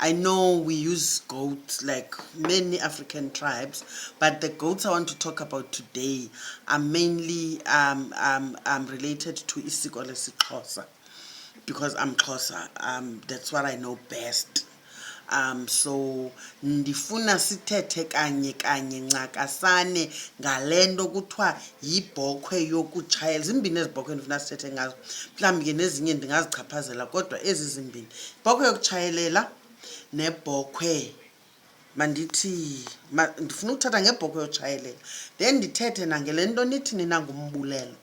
I know we use goats like many African tribes, but the goats I want to talk about today are mainly um, um, um, related to Isikole Sixhosa because I'm Xhosa. Um, that's what I know best. Um, so ndifuna sithethe kanye kanye ncakasane ngale nto kuthiwa yibhokhwe yokutshayela zimbini ezi bhokhwe ndifuna sithethe ngazo mhlawumbi ke nezinye ndingazichaphazela kodwa ezi zimbini ibhokhwe yokutshayelela nebhokhwe mandithi ndifuna ukuthatha ngebhokhwe yokutshayelela then ndithethe nangele nto nithi nina ngumbulelo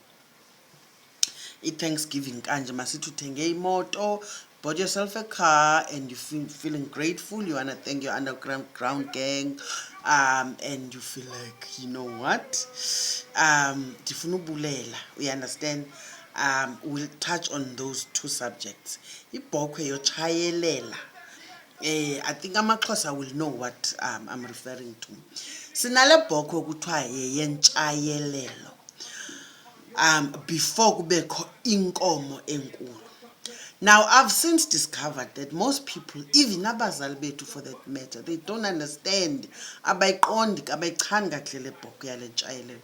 i-thanksgiving kanje masithi uthenge imoto bought yourself a car and you feel feeling grateful you wanna thank your underground ground gang um and you feel like you know what um ndifuna ubulela you understand um we'll touch on those two subjects ibhokhwe yotshayelela eh i think amaxhosa will know what um, i'm referring to sinale bhokhwe kuthiwa yeyentshayelelo um before kubekho inkomo enkulu now i've since discovered that most people even abazali bethu for that matter they don't understand abayiqondi abayichani kahle le bhoko yale ntshayelelo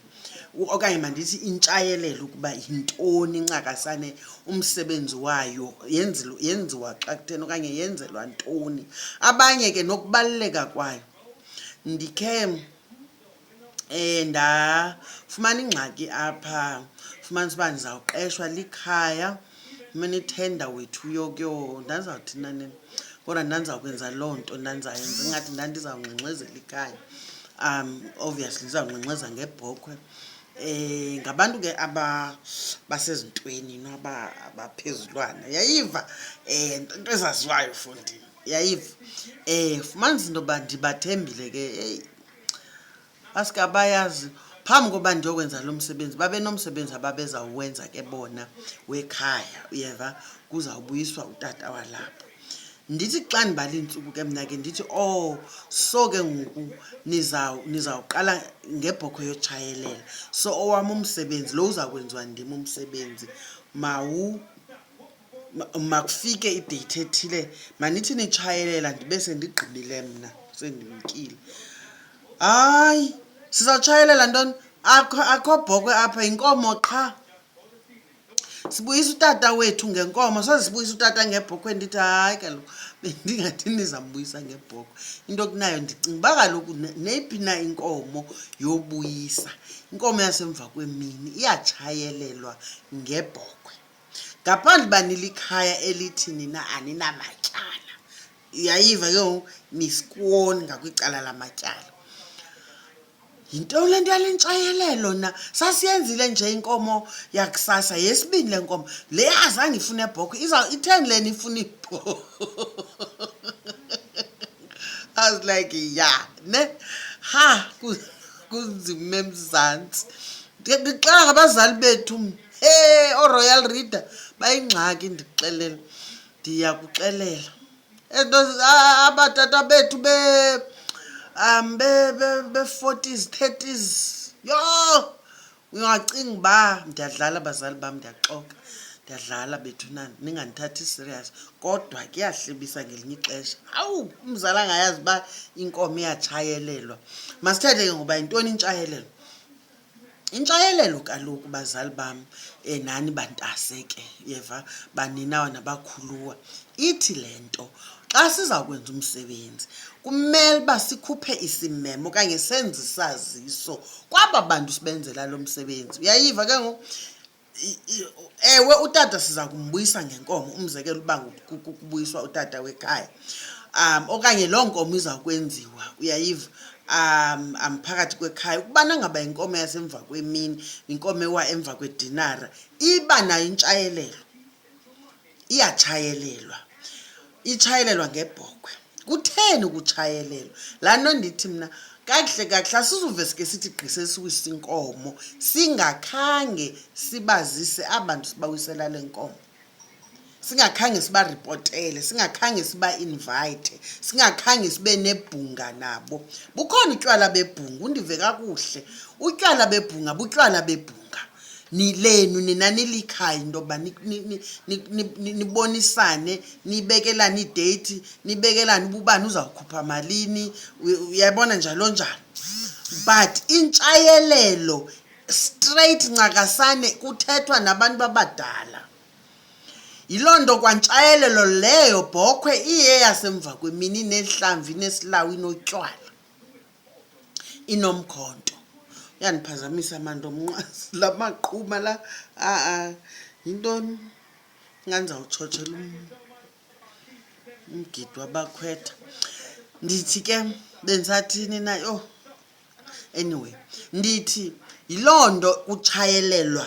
okanye mandithi intshayelelo ukuba yintoni incakasane umsebenzi wayo yenziwa xa kutheni okanye yenzelwa ntoni abanye ke nokubaluleka kwayo ndikhe um ndafumana ingxaki apha fumanisa uba ndizawuqeshwa likhaya fumana ithenda wethu uyokuyo ndandizawuthi nanini kodwa ndandizawukwenza loo nto ndandizawuyenza ingathi ndandizawungxengxezela ikhaya um obviously ndizawungxengxeza ngebhokhwe eh ngabantu ke aba basezintweni naba abaphezulwana yayiva eh into ezaziwayo fondini yayiva eh fumanisa into yoba ndibathembile ke eyi Baske abayazi phambi koba ndiyokwenza lo msebenzi babe nomsebenzi ababezawuwenza ke bona wekhaya uyeva kuzawubuyiswa utata walapho ndithi xa ndibala iintsuku ke mna ke ndithi o oh, so ke ngoku nizawuqala ngebhokho yotshayelela so owam umsebenzi lo uza kwenziwa ndim umsebenzi mawu Ma- makufike ideyithi ethile manithi nitshayelela ndibe sendigqibile mna sendimkile hayi sizawutshayelela ntoni akho akho bhokwe apha yinkomo qha sibuyisa utata wethu ngenkomo soze sibuyisa utata ngebhokhwe ndithi hayi kaloku bendingathi ndizambuyisa ngebhokhwe into okunayo ndicinga uba kaloku ne- neyiphi na inkomo yobuyisa inkomo yasemva kwemini iyatshayelelwa ngebhokhwe ngaphandle uba nilikhaya elithi nina aninamatyala yayiva ke ngoku nisikwoni ngakwicala lamatyala yinto le nto yale ntshayelelo na sasiyenzile nje inkomo yakusasa yesibini le nkomo le azange ifune ebhokho itheni le nifuna ibhokho i was like ya ne ha kunzima emzantsi ndixela ngabazali bethu he oroyal reader bayingxaki ndixelela ndiya kuxelela and abatata bethu be um be be be 40s 30s yho ungacinga uba ndiyadlala abazali bam ndiyaxoka ndiyadlala bethu nani ningandithathi serious kodwa kuyahlebisa ngelinye ixesha awu umzali angayazi uba inkomo iyatshayelelwa masithethe ke ngoba yintoni intshayelelo Intshayelelo kaloku bazali bam eh, nani bantase ke yeva baninawa nabakhuluwa ithi le nto xa siza kwenza umsebenzi kumele uba sikhuphe isimemo okanye senze isaziso kwaba bantu sibenzela lo msebenzi uyayiva ke ngoku I- i- ewe utata siza kumbuyisa ngenkomo umzekelo uba ngu- ku- ku- kubuyiswa utata wekhaya um okanye loo nkomo iza kwenziwa uyayiva um um phakathi kwekhaya ukubana ngaba inkomo yasemva kwemini inkomo ewa emva kwedinara iba nayo intshayelelo iyatshayelelwa itshayelelwa ngebhokhwe kutheni ukutshayelelwa laa nto ndithi mna kakuhle kakuhle asizuve sike sithi gqise siwise inkomo singakhange sibazise abantu sibawisela le nkomo singakhange sibaripotele singakhange sibainvayithe singakhange sibe nebhunga nabo bukhona utywala bebhunga undive kakuhle utywala bebhunga butywala bebhunga nilenu nina nilikhaya into yokuba nibonisane nibekelane ideyithi nibekelane uba ubani uzawukhupha malini uyabona njalo njalo but intshayelelo straight ncakasane kuthethwa nabantu abadala yiloo nto kwantshayelelo leyo bhokhwe iye yasemva kwemini nehlamvi nesilawu inotywala inomkhonto uyandiphazamisa manto mnqwazi la maqhuma la a-a yintoni ingandizawutshotshela umgidi wabakhwetha ndithi ke bendisathini na yho anyway ndithi yiloo nto kutshayelelwa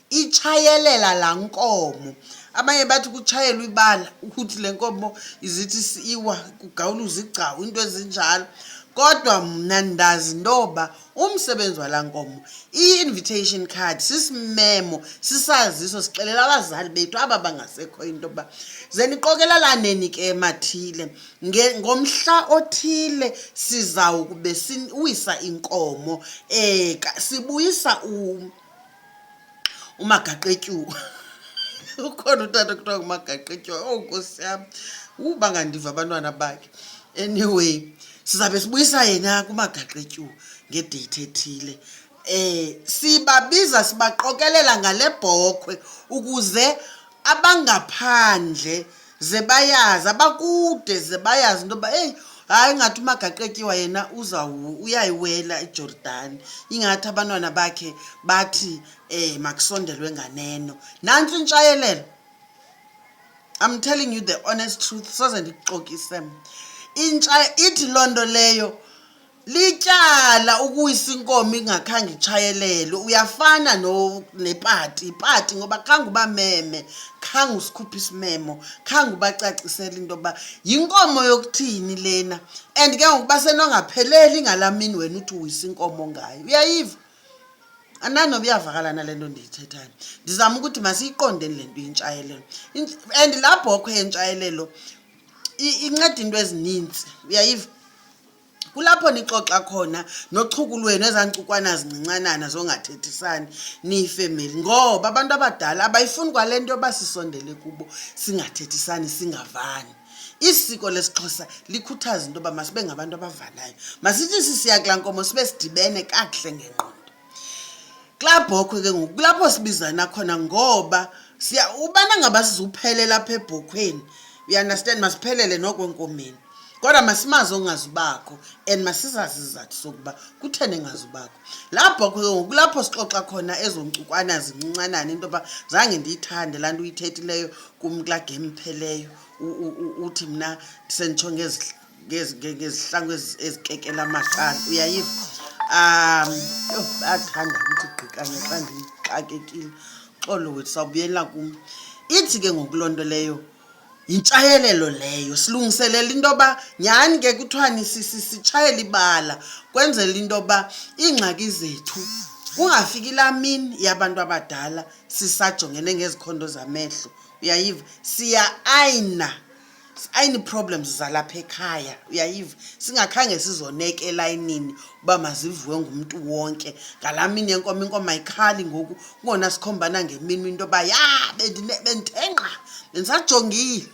itshayelela laa nkomo abanye bathi kutshayelwa ibala ukuthi le nkomo izithi siwa kugawuluza igcawu into ezinjalo kodwa mna ndazi intoba umsebenzi walaa nkomo i-invitation card sisimemo sisaziso sixelela abazali bethu aba bangasekho into yokuba ze niqokelalaneni ke emathile ngomhla othile sizawukube siwisa inkomo um sibuyisa umagaqetyuwa ukhona utata kuthiwa ngumagaqetyuwa owu oh, nkosi yam uba ngandiva abantwana bakhe anyway sizawube sibuyisa yena kumagaqetyuwa ngedeyithi ethile um sibabiza sibaqokelela ngale bhokhwe ukuze abangaphandle ze bayazi abakude ze bayazi into yoba eyi hayi ingathi umagaqetyiwa yena uyayiwela ijordani ingathi abantwana bakhe bathi um makusondelwe nganeno nantsi intshayelelo i'm telling you the honest truth soze ndikuxokise mna ithi loo nto leyo Lityala ukuwisa inkomo ingakhange itshayelele uyafana no nepati ipati ngoba khange ubameme khange usikhuphe isimemo khange ubacacisele into yokuba yinkomo yokuthini lena and ke ngoku basenongapheleli ngalaa mini wena uthi uwisa inkomo ngayo uyayiva ananoba iyavakalana le nto ndiyithethayo ndizama ukuthi masiyiqondeni le nto yintshayelelo and laa bhokhwe yentshayelelo inceda iinto ezininzi uyayiva kulapho nixoxa khona nochuku lwenu ezaa ntsukwana zincincanana zongathethisani niyifemeli ngoba abantu abadala abayifuni kwale nto yoba sisondele kubo singathethisani singavani isiko lesixhosa likhuthaza into yoba masibe ngabantu abavanayo masithi sisiya kulaa nkomo sibe sidibene kakuhle ngengqondo kulaa bhokhwe ke ngoku kulapho sibizana khona ngoba siya ubana ngaba sizuphelela apha ebhokhweni uyaunderstand masiphelele noko enkomeni kodwa masimazi ongazubakho and masizazi izizathu sokuba kutheni engazubakho laa bhokhwe ke ngoku kulapho sixoxa khona ezo nkcukwana zincincanane into yoba zange ndiyithande laa nto uyithethileyo kum kulaa game pheleyo uthi mna senditsho ngezidla ngezihlangu ezikekela amaqala uyayiva um yho bayathanda ukuthi gqikanye xa ndixakekile xolo wethu sawubuyela kum ithi ke ngoku loo nto leyo yintshayelelo leyo silungiselela into yoba nyhani ke kuthiwani sitshayela ibala kwenzela into yoba iingxaki zethu kungafiki laa mini yabantu abadala sisajongene ngezikhondo zamehlo uyayiva siya ayina ayini-problems zalapha ekhaya uyayiva singakhange sizoneke elayinini uba mazivuwe ngumntu wonke ngalaa mini yenkomo inkomo ayikhali ngoku kungona sikhombana ngemini into yoba ya bendithenqa bendisajongile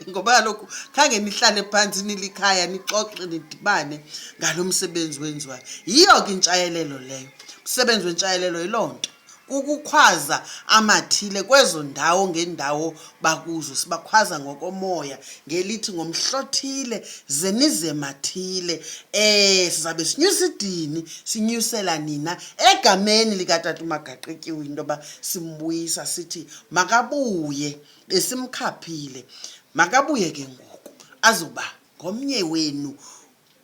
ngoba kaloku khange nihlale phantsi nilikhaya nixoxe nidibane ngalo msebenzi wenziwayo yiyo ke intshayelelo leyo msebenzi wentshayelelo yiloo nto kukukhwaza amathile kwezo ndawo ngeendawo bakuzo sibakhwaza ngokomoya ngelithi ngomhlothile zemizemathile eh sizabe sinyusa idini sinyusela nina egameni likatata umagaqityiwe into yoba simbuyisa sithi makabuye besimkhaphile makabuye ke ngoku azoba ngomnye wenu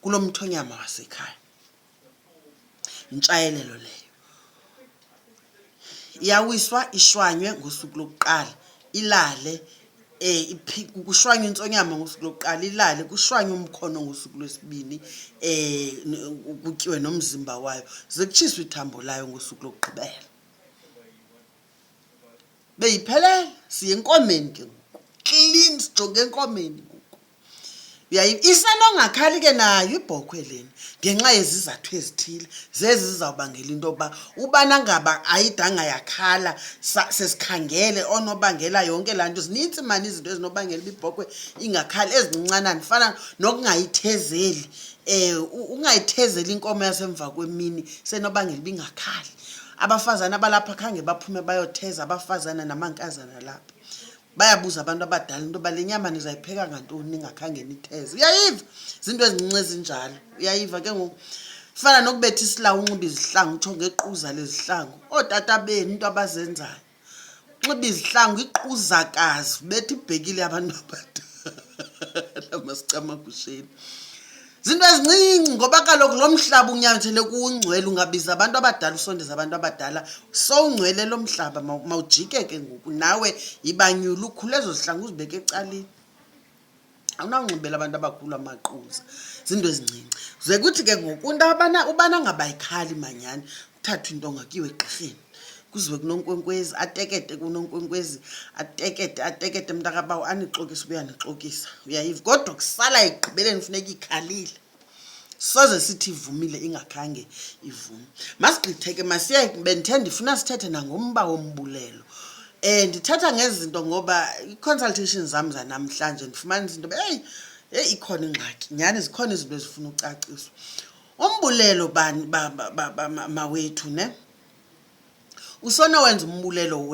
kulo mthonyama wasekhaya Yintshayelelo leyo. Iyawiswa ishwanywe ngosuku lokuqala, ilale kushwanywe intsonyama ngosuku lokuqala, ilale kushwanywe umkhono ngosuku lwesibini kutyiwe nomzimba wayo, ze kutshiswe ithambo layo ngosuku lokugqibela. Beyiphelele, siya enkomeni ke ngoku. Klin, sijonge enkomeni ngoku. uyayini isenongakhali ke nayo ibhokhwe leni ngenxa yezizathu ezithile zezi zizawubangela into yokuba ubana ngaba ayidanga yakhala sesikhangele onobangela yonke laa nto zinintsi mani izinto ezinobangela uba ibhokhwe ingakhali ezincincanani fana nokungayithezeli um ungayithezeli inkomo yasemva kwemini senobangela uba ingakhali abafazana abalapha khange baphume bayotheza abafazana namankazana lapha bayabuza abantu abadala into yoba le nyama nizayipheka ngantoni ningakhange nitheze uyayiva ziinto ezincinci ezinjalo uyayiva ke ngoku fana nokubetha isilawu unxiba izihlangu utsho ngequza lezihlangu ootata benu into abazenzayo unxiba izihlangu iquzakazi betha ibhekile abantu abadala masicamagusheni zinto ezincinci ngoba kaloku lo mhlaba unyanzele kuwungcwele ungabiza abantu abadala usondeza abantu abadala sowungcwele lo mhlaba mawujike ke ngoku nawe yibanyula ukhule ezo zihlanga uzibeke ecaleni awunawunxibela abantu abakhulu amaquza zinto ezincinci ze kuthi ke ngoku into ubana ngabayikhali manyani uthathwe into ongakiwe egqirheni kuziwe kunonkwenkwezi atekete kunonkwenkwezi atekete atekete mntakabawo anixokisa ubuya nixokisa uyayiva kodwa kusala ekugqibeleni funeka ikhalile soze sithi ivumile ingakhange ivume masigqitheke masiye bendithe ndifuna sithethe nangomba wombulelo um ndithetha ngezinto ngoba i-consultation zam zanamhlanje ndifumanisa into yoba heyi heyi ikhona ingxaki nyhani zikhona izinto ezifuna ucaciswa umbulelo bani mawethu ne usona wenza umbulelo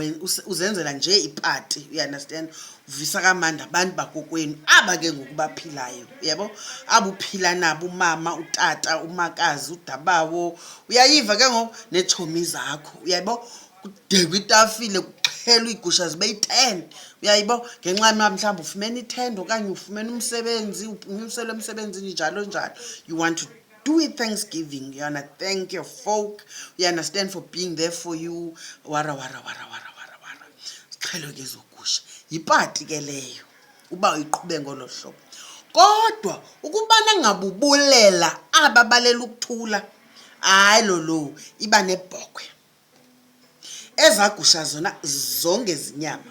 uzenzela nje ipati you understand uvisa kamandi abantu bakokwenu aba ke ngoku baphilayo yebo aba uphila nabo umama utata umakazi udabawo uyayiva ke ngoku neetshomi zakho uyaybo kudekwa itafile kuxhelwa iigusha zibe yi-ten uyayibo ngenxa yma mhlawumbi ufumene ithenda okanye ufumene umsebenzi unyuselwe emsebenzini njalo njalo you want to do it thanksgiving you wanna thank your folk you understand for being there for you wara wara wara wara wara wara ziqhelo ke zogusha yipati ke leyo uba uyiqhube ngolo hlobo kodwa ukubana ngabubulela aba balela ukuthula hayi lolo iba nebhokhwe Ezaa gusha zona zonge zinyama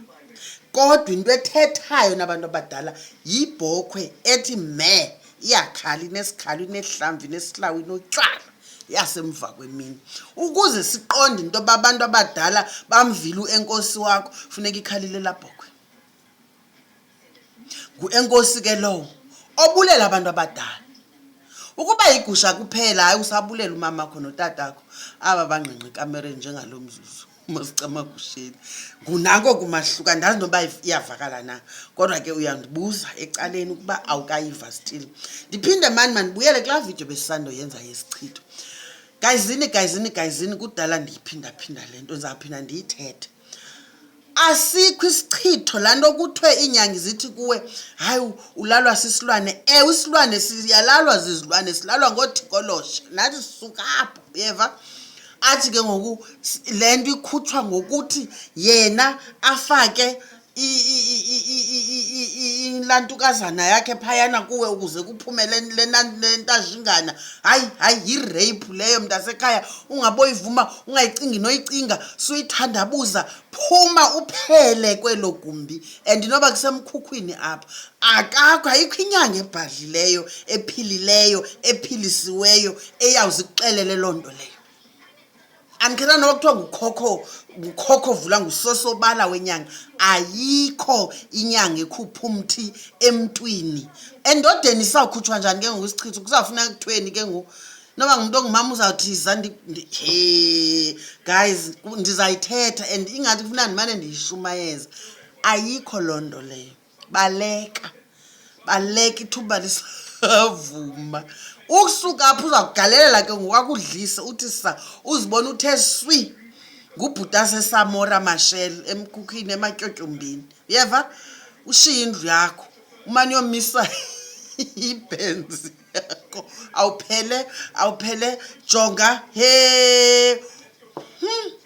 kodwa into ethethayo nabantu abadala yibhokhwe ethi me iyakhala inesikhalo inehlamvu inesilawu inotywala yasemva kwemini ukuze siqonde into yoba abantu abadala bamvile uenkosi wakho funeka ikhalile labhokhwe nguenkosi ke lowo obulela abantu abadala ukuba yigusha kuphela hayi usabulela umama kho notatakho aba bangqengqe ekamereni njengalo mzuzu masicamagusheni ngunako kumahluka ndazi noba iyavakala na kodwa ke uyandibuza ecaleni ukuba awukayiva still ndiphinde mani mandibuyele kulaa vidiyo besisandoyenza yesichitho gayizini gayizini gayizini kudala ndiyiphindaphinda le nto ndizawuphinda ndiyithethe asikho isichitho laa nto kuthiwe iinyangi zithi kuwe hayi ulalwa sisilwane ewe isilwane siyalalwa zizilwane silalwa ngoothikoloshe nathi sisuka apho uyeva athi ke ngoku le nto ikhutshwa ngokuthi yena afake ilantukazana yakhe phayana kuwe ukuze kuphume le ntajingana hayi hayi yireyiphu leyo mntasekhaya ungaboyivuma ungayicingi noyicinga suyithandabuza phuma uphele kwelo gumbi and noba kusemkhukhwini apha akakho ayikho inyanga ebhadlileyo ephilileyo ephilisiweyo eyawuze ikuxelele loo nto leyo andikhetha noba kuthiwa ngukhokho ngukhokho vula ngusosobala wenyanga ayikho inyanga ekhupha umthi emntwini endodeni isawukhutshwa njani ke ngoku isichitho kuzawufuneka kuthweni ke ngoku noba ngumntu ongumama uzawuthi zandi he guys ndizayithetha and ingathi kufuna ndimane ndiyishumayeza ayikho loo nto leyo baleka baleka ithuba lisavuma ukusuka apho uzakugalelela ke ngokwakudlisa uthi sa uzibona uthe swi ngubhuta sesamora mashel emkhukhini ematyotyombini uyeva ushiye indlu yakho umane yomisa ibhenzi yakho awuphele awuphele jonga he hmm.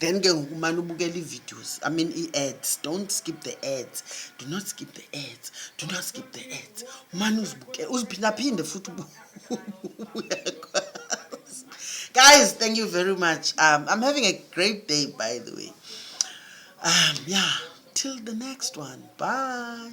then ke ngoku umane ubukela ii-videos i mean ii-ads don't skip the ads do not skip the ads do not skip the ads umane uzibuke uziphindaphinde futhi uyakwazi guys thank you very much um, i'm having a great day by the way um, yeah till the next one bye